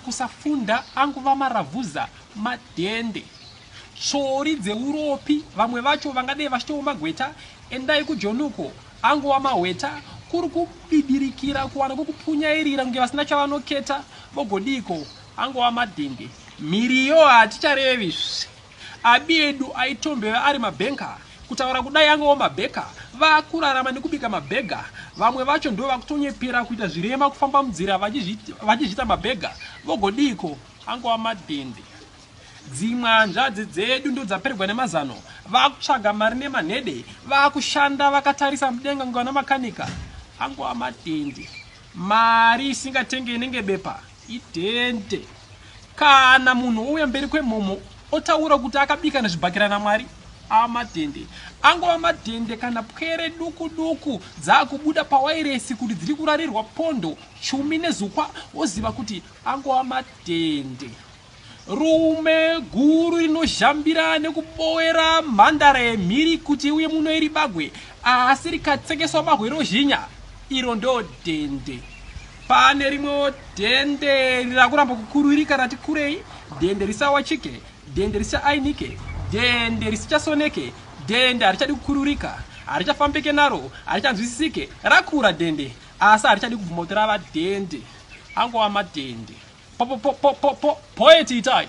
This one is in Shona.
Kusafunda anguva maravhuza madhende. Tsvori dzeuropi vamwe vacho vangadei vachitova magweta endai kujoni uko angova mahweta kuri kubibirikira kuwana kwekupunyairira kunge vasina chavanoketa vogodiiko angova madhende. Mhiriyo haticharevi Abi edu aitombeva ari mabanker kutaura kudai angewo mabaker vakurarama nekubika mabhega vamwe vacho ndovakutonyepera kuita zvirema kufamba munzira vachizviita mabhega vogodiiko angova madhende dzimwe hanzvadzi dzedu ndodzapererwa nemazano vakutsvaga mari nemanhede vakushanda vakatarisa mudenga ngana makanika angova madhende mari isingatenge inenge bepa Idente. Kana munhu ouya mberi kwemomo otaura kuti akabika nezvibhakera naMwari amadhende angova madhende kana pwere duku duku dzaakubuda pawairesi kuti dziri kurarirwa pondo chumi nezukwa woziva kuti angova madhende. Rume guru rinozhambira nekubowera mhandare mhiri kuti uye muno iri bagwe asi rikatsekeswa bahwe rozhinya iro ndo dende. Pane rimwewo dende rakuramba kukuruirika rati kurei, dende risawachike, dende risaainike, dende risichasoneke, dende harichadi kukururika, harichafambike naro, harichanzwisisike, rakura dende. Asi harichadi kubvuma kuti rava dende angova madende. Poet itai.